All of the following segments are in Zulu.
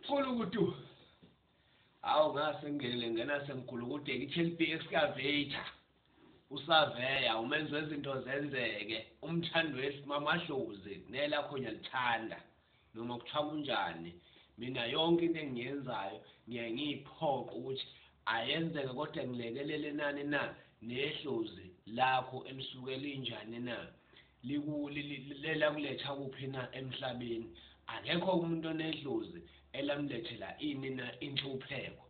Kulukutu. Awu ngase ngingenele ngena semgulukudeni iTLP excavator. Usaveya umenzi wezinto zenzeke umthando wesimamahlozi nela khonya lithanda noma kuthiwa kunjani mina yonke into engiyenzayo ngiye ngiyiphoqa ukuthi ayenzeke kodwa ngilekelele nani na nehlozi lakho elisuke linjani na liku li, li, li, lakuletha kuphi na emhlabeni akekho umuntu onedlozi elamlethela ini na inhlupheko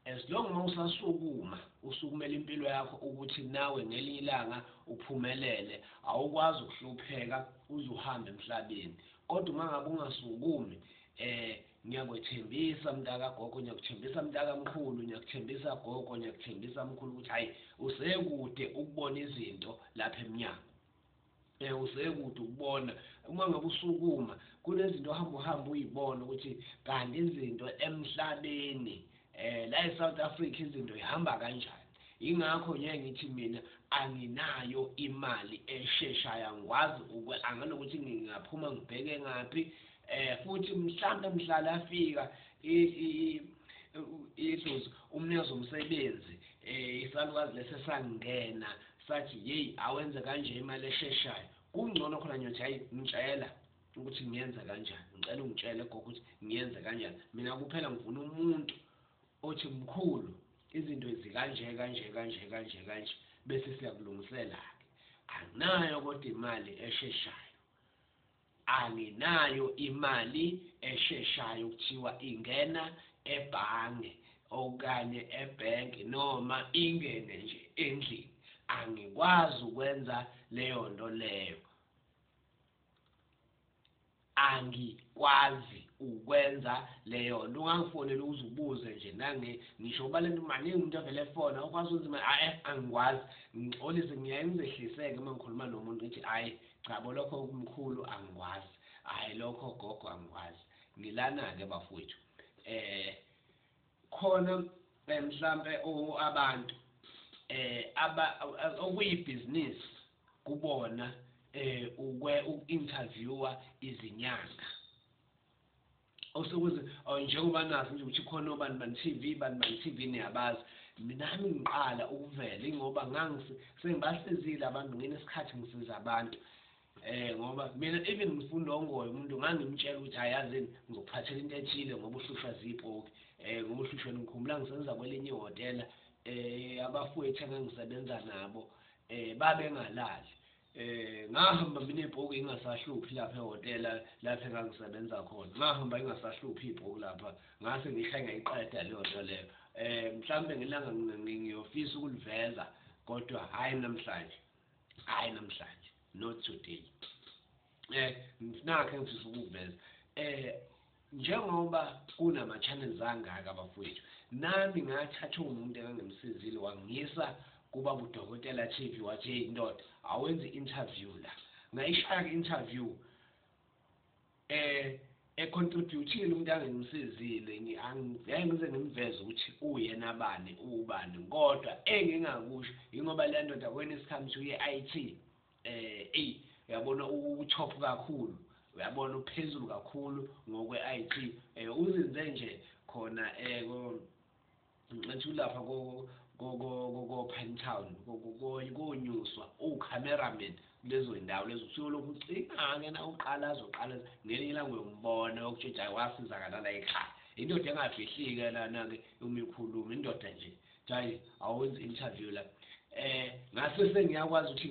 as long uma usasukuma usukumela impilo yakho ukuthi nawe ngelinye ilanga uphumelele awukwazi ukuhlupheka uze uhambe emhlabeni kodwa uma ngabe ungasukumi eh ngiyakwethembisa mntaka gogo ngiyakuthembisa mntaka mkhulu ngiyakuthembisa gogo ngiyakuthembisa mkhulu ukuthi hayi usekude ukubona izinto lapha emnyango Eh usekude ukubona uma ngabe usukuma kunezinto ohamba uhamba uyibona ukuthi kanti izinto emhlabeni eh la eSouth Africa izinto ihamba kanjani ingakho ngeke ngithi mina anginayo imali esheshayo angikwazi anganokuthi ngingaphuma ngibheke ngaphi eh futhi mhlambe mhlala afika idlozi umnikazi omsebenzi eh isalukazi lesesangena Sathi yeyi awenze kanje imali esheshayo kungcono khona ngiyothi ayi ngitshela ukuthi ngiyenza kanjani ngicela ungitshele gogo ukuthi ngiyenze kanjani mina kuphela ngifuna umuntu othi mkhulu izinto ezikanje kanje kanje kanje kanje bese siyakulungisela-ke anginayo kodwa imali esheshayo Anginayo imali esheshayo kuthiwa ingena ebhange okanye ebank noma ingene nje endlini angikwazi ukwenza leyonto leyo angikwazi ukwenza leyonto ungangifonela ukuze ubuze nje nange ngisho uba lento maningi umuntu avele efona ukwazi ukwenza imali ae angikwazi ngixolise ngiyaye ngizehliseke uma ngikhuluma nomuntu ngithi ayi Cha bo lokho mkhulu angikwazi. Hayi lokho gogo angikwazi. Ngilana ke bafowethu. Eh khona mhlambe abantu eh aba okuyibhizinisi kubona eh ukwe uku-interviewer izinyanga. osokuze oh, njengoba nazi nje ukuthi khona obani bani TV bani bani TV niyabazi minami ngiqala ukuvela ingoba ngangise sengibasizile abantu ngine sikhathi ngisiza abantu eh ngoba mina even ngifunda ongoyo umuntu ngangimtshela ukuthi hayazini ngizokuphathela into ethile ngoba uhlushwa zipoki eh ngoba uhlushwa ngikhumbula ngisenza kwelinye ihotela eh abafowethu engangisebenza nabo eh babengalali eh ngahamba mina ibhuku ingasahluphi lapha ehotela lapha engangisebenza khona ngahamba ingasahluphi ibhuku lapha ngase ngisha ngiyiqeda leyo nto leyo eh mhlambe ngelanga ngiyofisa ukuliveza kodwa hayi namhlanje hayi namhlanje not today eh nakhe ngifisa ukuveza eh Njengoba kunama channels angaka bafwethu nami ngathathwa umuntu engangimsizile wangiyisa kuba budokotela TV wathi hey ndoda awenze interview la ngayishaya ke interview eh econtributile umuntu angimsizile ngeke ngize ngimveze ukuthi uyena bani ubani kodwa engingakusho ingoba le ndoda when it comes to i-IT Eh ey uyabona utop kakhulu uyabona uphezulu kakhulu ngokwe IT eh uzinze nje khona eh ko ngithi ulapha ko ko ko ko Pinetown konyuswa u cameraman lezo ndawo lezo usuke lokhu ucinga ke na uqala azoqala ngelinye ilanga uyombona yokutshintsha wasizakala la ekhaya indoda engafihlike lana ke umikhuluma indoda nje Guys, awenze interview la. Eh ngase sengiyakwazi ukuthi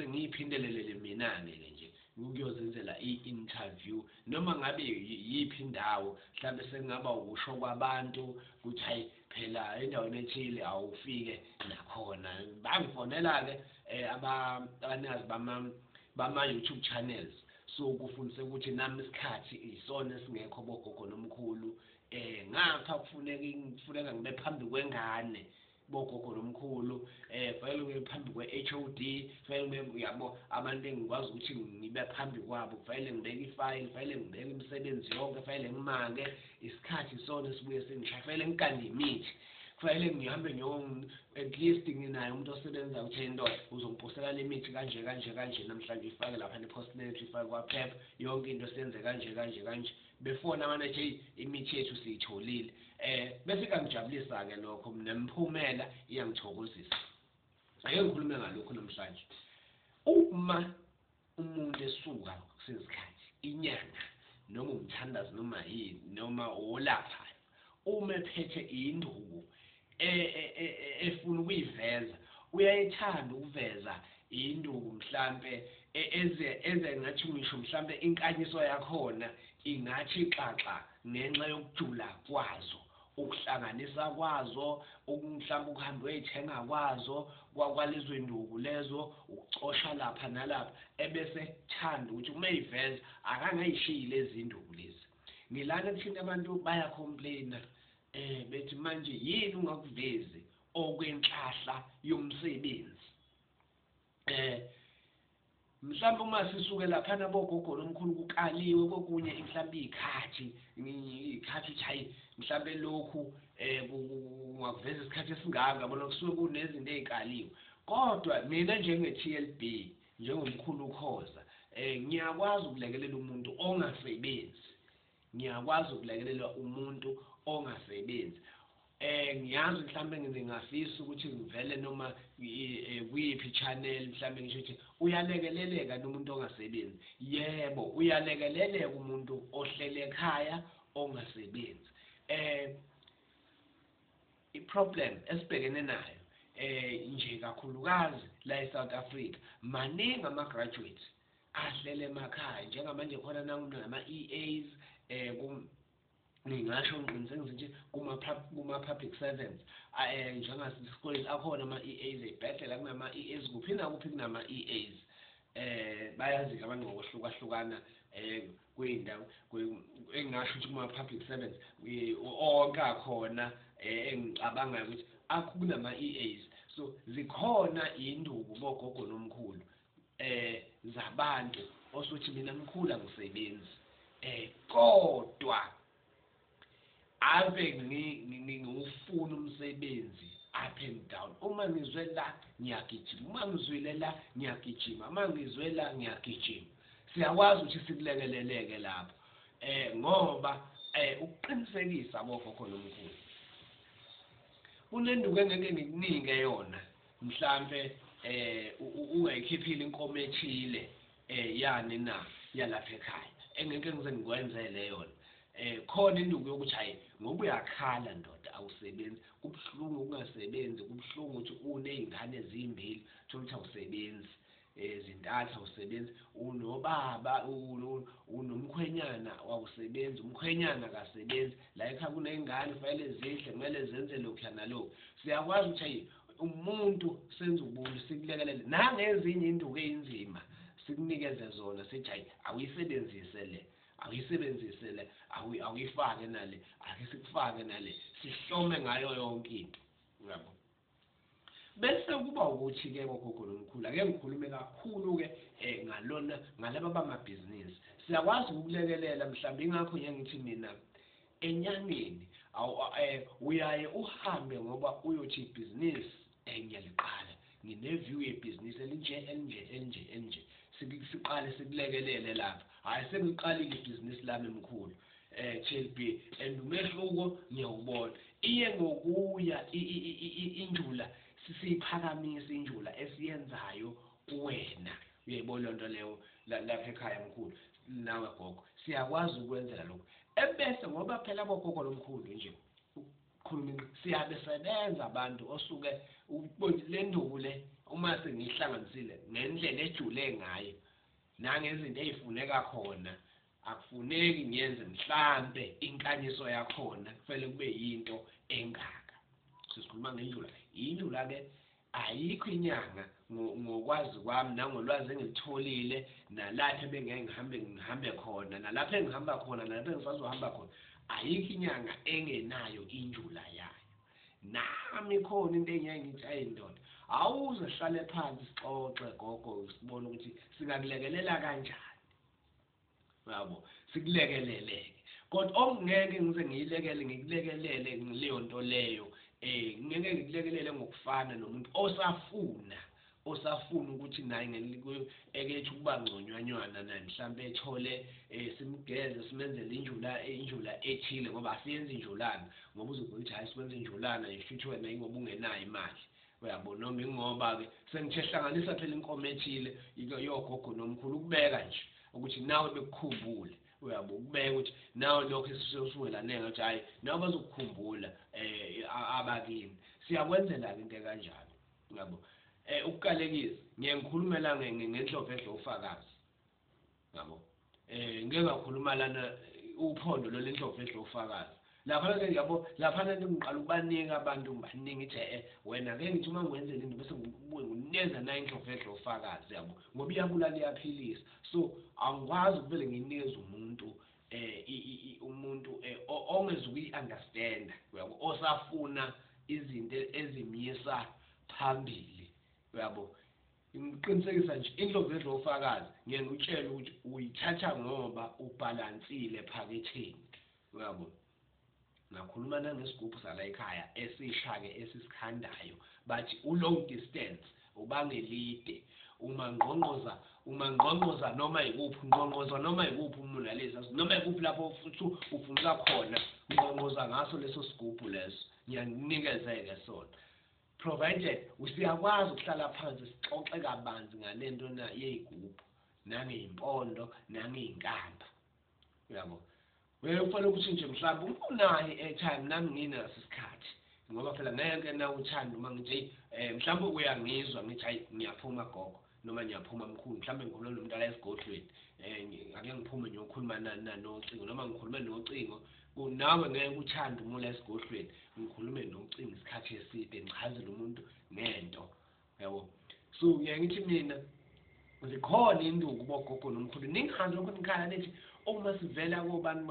ngiyiphindelelele mina ke ke nje. Ngiyozenzela i-interview noma ngabe yiphi indawo mhlawumbe sekungaba ukusho kwabantu ukuthi hayi phela endaweni ethile awufike nakhona. Bangifonela ke eh abanikazi bama bama YouTube channels so kufundise ukuthi nami isikhathi isona esingekho bogogo nomkhulu eh ngapha kufuneka kufuneka ngibe phambi kwengane bogogo nomkhulu eh kufanele ngibe phambi kwe-HOD kufanele ngibe uyabo abantu engikwazi ukuthi ngibe phambi kwabo kufanele ngibeke ifayili kufanele ngibeke imisebenzi yonke kufanele ngimake isikhathi sona esibuye singisha kufanele ngikande imithi kufanele ngihambe at least nginaye umuntu osebenzayo ukuthi into uzongiphosela le mithi kanje kanje kanje namhlanje ifake lapha nephostinetri ifake kwaphepha yonke into senze kanje kanje kanje befona manje hey imithi yethu siyitholile eh bese kangijabulisa ke lokho mina mphumela iyangithokozisa ake ngikhulume ngalokho namhlanje uma umuntu esuka kusesikhathi inyanga noma umthandazi noma yini noma olaphayo Uma ephethe induku e, e, e, efuna ukuyiveza, uyayethanda ukuveza induku mhlampe eze eze ngathi ngisho mhlampe inkanyiso yakhona ingathi xaxa ngenxa yokujula kwazo ukuhlanganisa kwazo mhlawumbe ukuhamba uyayithenga kwazo kwakwalezo induku lezo ukucosha lapha nalapha ebese thanda ukuthi uma eyiveza akangayishiyi lezi induku lezi Ngilana ebushini abantu baya complaina eh bethi manje yini ungakuvezi okwenhlahla yomsebenzi eh mhlawumbe uma sisuke lapha nabogogo lomkhulu kukaliwe kokunye mhlawumbe ikhathi ikhathi chayi mhlawumbe lokhu eh kungakuveza isikhathi esingaka bona kusuke kunezinto ezikaliwe kodwa mina njenge TLB Njengomkhulu uKhoza, eh ngiyakwazi ukulekelela umuntu ongasebenzi. Ngiyakwazi ukulekelela umuntu ongasebenzi. Eh ngiyazi mhlambe ngingafisa ukuthi ngivele noma eh, kuyiphi channel mhlambe ngisho ukuthi uyalekeleleka nomuntu ongasebenzi. Yebo, uyalekeleleka umuntu ohlele ekhaya ongasebenzi. Eh I problem esibhekene nayo eh nje kakhulukazi la eSouth Africa maningi ama graduates ahlele emakhaya njengamanje khona nangu nama EAs eh kum ngingasho ngiqinisengise nje kuma kuma public servants eh njengasesikoleni akhona ama EAs ebhedlela kunama EAs kuphi nakuphi kunama EAs eh bayazi abantu ngokuhlukahlukana eh kwindawo engingasho ukuthi kuma public servants onke akhona eh, engicabangayo ukuthi akho kunama EAs so zikhona induku bogogo nomkhulu eh zabantu osuthi mina mkhulu angisebenzi eh kodwa ave ngiwufuna umsebenzi up and down uma ngizwe la ngiyagijima uma ngizwile la ngiyagijima uma ngizwe la ngiyagijima siyakwazi ukuthi sikulekeleleke lapho eh ngoba eh ukuqinisekisa kokho khona omkhulu kunenduku engeke ngikunike yona mhlambe eh ungayikhiphile inkomo ethile Eh yani na yalapha ekhaya engeke ngize ngikwenzele yona eh khona induku yokuthi hayi ngoba uyakhala ndoda awusebenzi kubuhlungu ukungasebenzi kubuhlungu ukuthi unezingane ezimbili thola ukuthi awusebenzi ezintathu awusebenzi unobaba unomkhwenyana wawusebenzi umkhwenyana akasebenzi la ekhaya kuney'ngane kufanele zidle kumele zenze lokhuya nalokhu siyakwazi ukuthi ayi umuntu senza ubuntu sikulekelele nangezinye induku eyinzima sikunikeze zona sithi hayi awuyisebenzise le awuyisebenzise le awuyifake nale ake sikufake nale sihlome ngayo yonke into uyabo bese kuba ukuthi ke ngogogo nomkhulu ake ngikhulume kakhulu ke eh ngalona ngalaba bamabhizinisi siyakwazi ukulekelela mhlawumbe ingakho ngiye ngithi mina Enyangeni uyaye uhambe ngoba uyothi ibhizinisi enye liqale ngine view yebhizinisi elinje elinje elinje elinje siqale sikulekelele lapha hhayi sengiliqalile ibhizinisi lami mkhulu eh TLB and umehluko ngiyawubona iye ngokuya injula sisiyiphakamisa injula esiyenzayo kuwena uyayibona lonto leyo lapha ekhaya mkhulu nawe gogo siyakwazi ukwenzela lokhu ebese ngoba phela bogogo lomkhulu nje ukukhuluma inqi siyabe sebenza abantu osuke le nduku le uma sengiyihlanganisile ngendlela ejule ngayo nangezinto ezifuneka khona akufuneki ngiyenze mhlambe inkanyiso yakhona kufele kube yinto engaka sisikhuluma ngendlula indlula ke Ayikho inyanga ngo ngokwazi kwami nangolwazi engilitholile nalapho ebengeke ngihambe ngihambe khona nalapho engihamba khona nalapho engisazohamba khona ayikho inyanga engenayo injula yayo nami khona into engeke ngithi ayi ndoda awuze sihlale phansi sixoxe gogo sibone ukuthi singakulekelela kanjani Yabo, sikulekelele-ke. Kodwa okungeke ngize ngiyilekele ngikulekelele leyo nto leyo eh ngeke ngikulekelele ngokufana nomuntu osafuna osafuna ukuthi naye ngelikekethe ukuba ngconyanywana naye mhlawumbe ethole eh, simgeze simenzele injula injula ethile ngoba asiyenzi injulana ngoba uzokuthi hayi siwenza injulana yisho ukuthi wena ingoba ungenayo imali Uyabo noma ingoba ke sengithe hlanganisa phela inkomo ethile yogogo nomkhulu ukubeka nje ukuthi nawe bekukhumbule uyabo ukubeka ukuthi nawe lokho esisuwelaneke ukuthi hayi nawe bazokukhumbula eh abakini siyakwenzela into kanjalo uyabo eh ukukalekisa ngiye ngikhulumela ngenhlophe edla ufakazi Yabo. Eh ngeke ngakhuluma lana uphondo lolu indlovu edla ufakazi. Laphana ke yabo laphana ke ngiqala ukubanika abantu ngibaningi ithe eh wena ke ngithi uma ngwenzela into bese ngibuye ngineza nayo indlovu edla ufakazi yabo ngoba iyabulala iyaphilisa. So angikwazi ukuvele nginikeze umuntu eh umuntu eh, ongezuku yi understand uyabo osafuna izinto ezimyisa phambili uyabo Ngikuqinisekisa nje indlovedlo wofakazi ngiye ngikutshele ukuthi uyithatha ngoba ubhalansile ephaketheni uyabo ngakhuluma nangesigubhu sala ekhaya esishake esisikhandayo bathi ulong distance ubangelide umangqongqoza umangqongqoza noma yikuphi ungqongqoza noma yikuphi umulalisa noma yikuphi lapho futhi ufuneka khona ungqongqoza ngaso leso sigubhu leso ngiyanikezeke sona Provided usiyakwazi ukuhlala phansi sixoxe kabanzi ngalento na yeyigubhu nangeyimpondo nangeyinkamba. Uyabo? Wewe kufanele ukushintshe mhlawumbe ungunayo i-airtime nami nginaso isikhathi ngoba phela ngeke nawuthanda uma ngithi eh mhlawumbe uyangizwa ngithi hayi ngiyaphuma gogo noma ngiyaphuma mkhulu mhlawumbe ngikhuluma nomuntu ala esigodlweni um ake ngiphume ngiyokhuluma nocingo noma ngikhulume nocingo nawe ngeke uthande umula esigodlweni ngikhulume nocingo isikhathi eside ngichazele umuntu ngento yabo so ngiye ngithi mina zikhona induku bogogo nomkhulu ningazi lokho nikhala nithi uma sivela kobani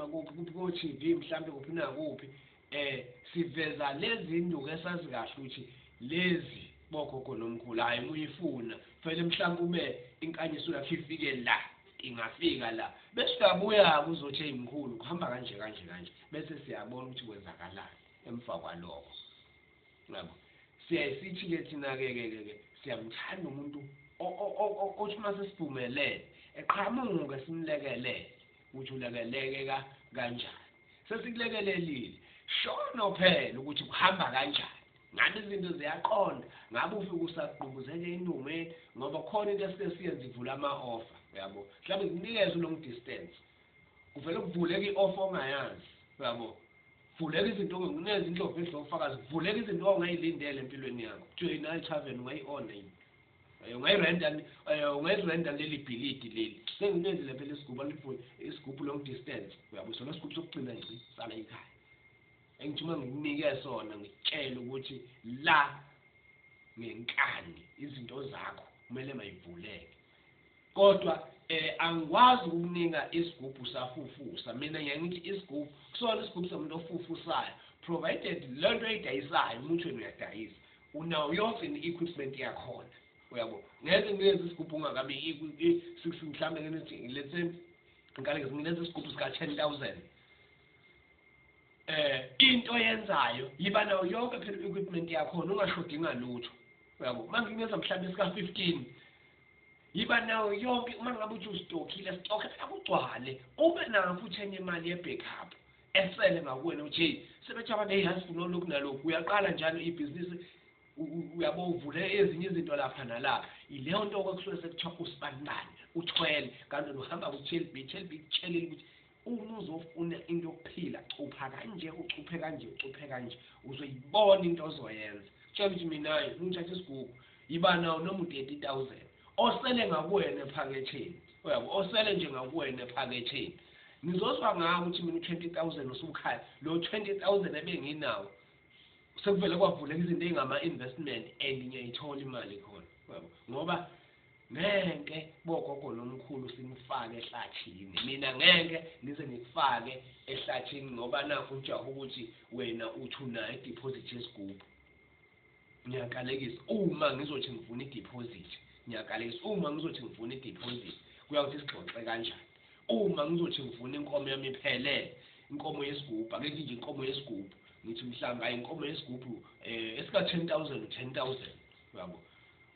kothi-v mhlawumbe kuphi nakuphi eh siveza lezi induku esazi kahle ukuthi lezi bogogo nomkhulu hayi muyifuna fanele mhlawumbe ube inkanyiso yakhe ifike la ingafika la bese uyabuya-ke uzothi eyi mkhulu kuhamba kanje kanje kanje bese siyabona ukuthi kwenzakalani emva kwalokho yabo siyayisithi-ke thina-ke-ke-ke siyamthanda umuntu othi uma sesiphumelele eqhamuke simlekelele ukuthi ulekelekeka kanjani Sesikulekelelile. Shono phela ukuthi kuhamba kanjani. Ngabe izinto ziyaqonda, ngabe ufike usagqubuzeka enungweni ngoba khona into esike siyenze ivula ama-offer, uyabo. Mhlawumbe ngikunikeze u-long distance. Kuvele kuvuleke i-offer ongayazi, uyabo. Kuvuleka izinto ongekuneza indlovu edla ofakazi, kuvuleka izinto ongayilindele empilweni yakho. Kuthiwe yini, hayi tavern ungayi-owner yini? Eh, ungayirenta eh, ungayirenta leli bhilidi leli senginenzile phela isigubhu alifuni isigubhu long distance uyabo sona isigubhu sokugcina nje sala ekhaya engithuma ngikunike sona ngitshele ukuthi la ngenkani izinto zakho kumele mayivuleke kodwa eh angikwazi ukukunika isigubhu safufusa mina ngiyangithi isigubhu kusona isigubhu somuntu ofufusayo provided lento eyidayisayo umuntu wena uyadayisa Unawo yonke ni equipment yakhona. Uyabo. Ngeke ngiyenze isigubhu ungakabi i six mhlambe ngenithi let's say ngikale ngizingenza isigubhu sika 10000. Eh into yenzayo yiba nawo yonke phela equipment yakhona ungashodi ngalutho. Uyabo. Manje ngiyenza mhlambe sika 15 yiba nawo yonke uma ngabe uthi ustockile stock akugcwale ube nawo futhi enye imali ye backup esele ngakuwena uj sebethi abantu hey hansi funa lokhu nalokhu uyaqala njalo ibhizinisi uyabo uvule ezinye izinto lapha nala ileyo nto kwakusuke sekuthiwa usibanibani uthwele kanti nohamba ku-chelb chelb kutshelile ukuthi uma uzofuna into yokuphila cupha kanje ucuphe kanje ucuphe kanje uzoyibona into ozoyenza tshela ukuthi mina ngithatha isigugu yiba nawo noma u-thirty thousand Osele ngakuwena ephaketheni. Uyabo? Osele nje ngakuwena ephaketheni. Nizozwa ngawo ukuthi mina u-20000 usukhaya. Lo 20000 ebenginawo sekuvele kwavuleka izinto ezingama investment and ngiyayithola imali khona. Uyabo? Ngoba ngeke bogogo nomkhulu simfake ehlathini mina ngeke ngize ngikufake ehlathini ngoba nakho ujaha ukuthi wena uthi unayo ideposit yesigubhu ngiyakalekisa uma ngizothi ngifuna ideposit ngiyakalekisa uma ngizothi ngifuna ideposit kuya ukuthi sigxoxe kanjani uma ngizothi ngifuna inkomo yami iphelele inkomo yesigubhu ake nje inkomo yesigubhu ngithi mhlawumbe ayi inkomo yesigubhu um eh, esika-ten thousand u-ten thousand uyabo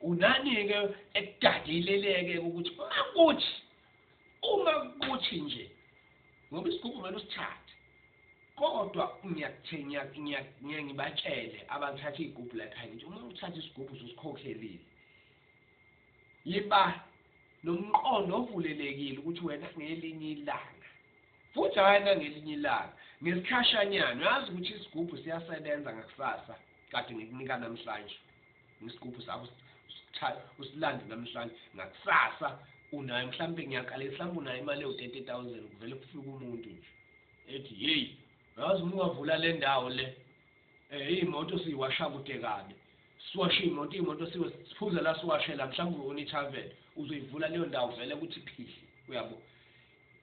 unani-ke ekudadileleke ukuthi makuthi uma kuthi nje ngoba isigubhu kumele usithathe kodwa ngiyakuthengiyake ngibatshele abathatha iy'gubhu la ekhaya ngithi uma uthatha isigubhu ususikhokhelile yiba nomqondo ovulelekile ukuthi wena ngelinye ilanga futhi hhayi nangelinye ilanga ngesikhashanyana uyazi ukuthi isigubhu siyasebenza ngakusasa kade ngikunika namhlanje Ngesgubhu sakho usichaya usilande namhlanje ngakusasa unayo mhlampe ngiyaqala mhlampe unayo imali ewu 30000 kuvele kufika umuntu nje ethi hey yazi uma ungavula le ndawo le eh imoto siyiwasha kude kabi siwashe imoto imoto siwe siphuze la siwashe la mhlawumbe unithavel uzoyivula leyo ndawo vele ukuthi phihli uyabo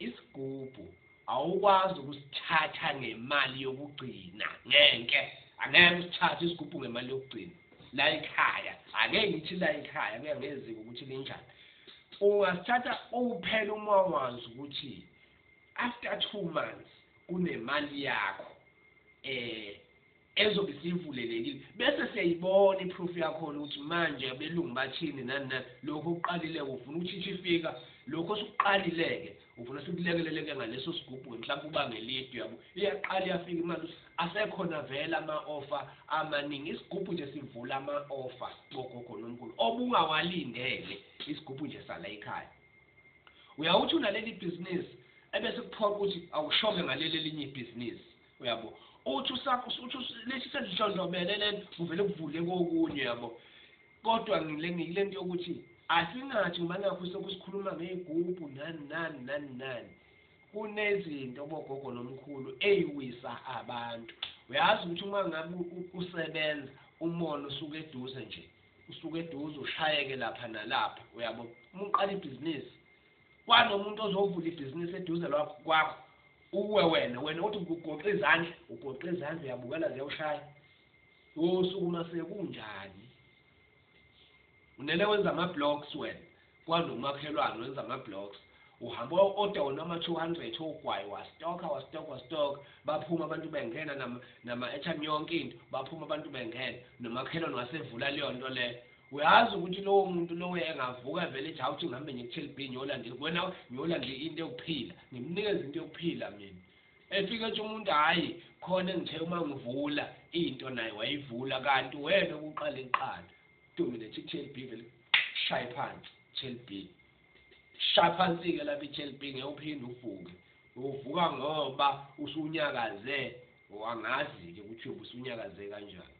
Isigubhu awukwazi ukusithatha ngemali yokugcina ngeke angeke usithathe isigubhu ngemali yokugcina la ekhaya angeke ngithi la ekhaya kuya ngeziko ukuthi linjani ungasithatha uphela uma wazi ukuthi after two months kunemali yakho eh ezobe siyivulelekile bese siyayibona iproof yakhona ukuthi manje abelungu bathini nani nani lokho okuqalileke ufuna ukuthi ithi ifika lokho osukuqalileke ufuna sikulekeleleke ngaleso sigubhu-ke mhlawumbe uba ngelidi uyabo iyaqala iyafika imali asekhona vele ama-ofa amaningi isigubhu nje sivula ama-ofa sicogogo nomkhulu obungawalindele isigubhu nje sala ekhaya uyawuthi unaleli bhizinisi ebese kuphoqa ukuthi awushoke ngaleli elinye ibhizinisi uyabo uthi usakho uthi lesi sendlondlobele lento kuvele kuvule kokunye yabo kodwa ngile ngilento yokuthi asingathi ngoba nakho sokusikhuluma ngeyigubhu nani nani nani nani kunezinto bogogo nomkhulu eyiwisa abantu uyazi ukuthi uma ngabe usebenza umona usuke eduze nje usuke eduze ushayeke lapha nalapha uyabo uma uqala ibhizinisi kwanomuntu ozovula ibhizinisi eduze lwakho kwakho uwe wena wena uthi ugoqa izandla ugoqa izandla uyabukela ziyawushaya wosuku uma sekunjani unele wenza ama-blocks wena kwanomakhelwane wenza ama-blocks uhamba oda wona ama-two hundred ogwayi wastoka wastoka wastoka baphuma abantu bengena nama-echan yonke into baphuma abantu bengena nomakhelwane wasevula leyo nto leyo Uyazi ukuthi lowo muntu lowo engavuka vele ethi hawuthi ngihambe nje ku-Tell B ngiyola nje wena ngiyola nje into yokuphila ngimnikeza into yokuphila mina efike ethi umuntu hhayi khona engithe uma ngivula into naye wayivula kanti wena ukuqala iqala dominate i-Tell B vele shaye phansi Tell B shaya phansi-ke lapha i-Tell B ngeke uphinde uvuke uvuka ngoba usunyakaze wangazi-ke ukuthi uyobe usunyakaze kanjani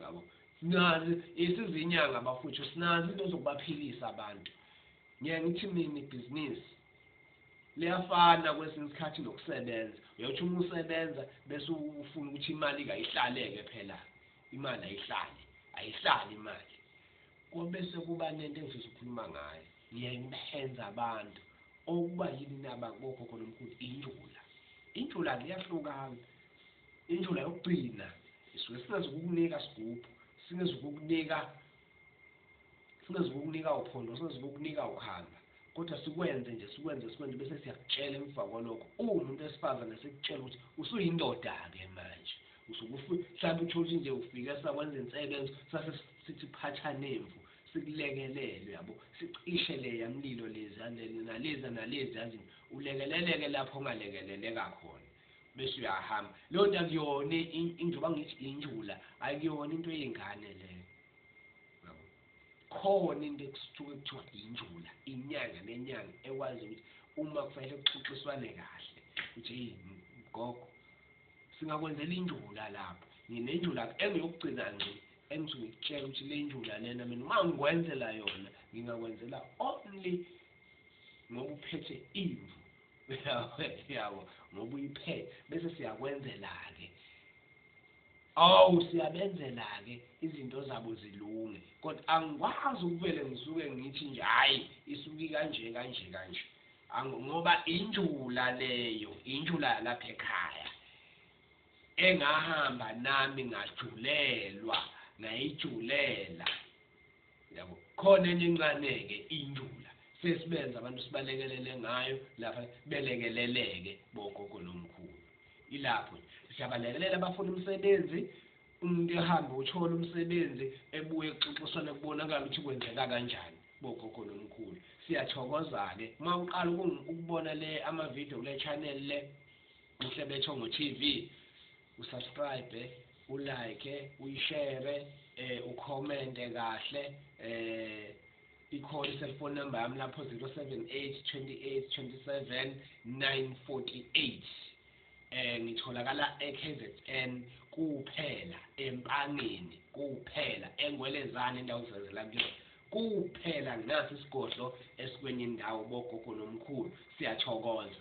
Yabo. Sinazi isizinyanga bafuthu sinazi into zokubaphilisa abantu. Ngeke ngithi mina ibhizinisi liyafana kwesinye isikhathi nokusebenza. Uyothi uma usebenza bese ufuna ukuthi imali kayihlaleke phela. Imali ayihlali, ayihlali imali. Kobe sekuba nento engifisa ukukhuluma ngayo. Ngiyeke ngibenze abantu okuba yini naba kokhokho nomkhulu injula. Injula liyahlukana. Indlela yokugcina isuke singezukukunika sigubhu, singezukukunika singezukukunika uphondo, singezukukunika ukhamba kodwa sikwenze nje sikwenze sikwenze bese siyakutshela emva kwalokho uwumuntu wesifazane sikutshela ukuthi usuyindoda-ke manje mhlawumbe utholi nje ufike sakwenza insebenzo sase sithi phatha nemvu sikulekelele yabo sicishe leya mlilo lezi nalezi nalezi yazi ulekeleleke lapho ongalekeleleka khona bese uyahamba leyo nto akuyona njengoba ngithi injula akuyona into yey'ngane leyo yabo khona into ekusuke kuthiwa injula inyanga nenyanga ekwazi ukuthi uma kufanele kuxoxiswane kahle ukuthi eyi gogo singakwenzela injula lapho nginenjula engiyokugcina nje engithi ngikutshela ukuthi le njula lena mina uma ngikwenzela yona ngingakwenzela only ngokuphethe imvu yabo ngoba uyiphethe bese siyakwenzela-ke awu siyabenzela-ke izinto zabo zilunge kodwa angikwazi ukuvele ngisuke ngithi nje hhayi isuke kanje kanje kanje ngoba injula leyo injula yalapha ekhaya engahamba nami ngajulelwa ngayijulela yabo khona enye encane-ke indula sesibenza abantu sibalekelele ngayo lapha belekeleleke bogogo nomkhulu ilapho siyabalekelela abafuna umsebenzi umuntu ehambe uthole umsebenzi ebuye kuxoxiswane kubonakala ukuthi kwenzeka kanjani bogogo nomkhulu siyathokoza-ke uma uqala ukubona le amavidiyo kule channel le mhlebetho ngo-tv usubscribe ulike uyishare eh ucommente kahle eh ikhona iselfone number yami lapho 078 28 27 948 eh ngitholakala eKZN kuphela empangeni kuphela engwelezane indawo zizela kuyona kuphela nasi isigodlo esikwenye indawo bogogo nomkhulu siyathokoza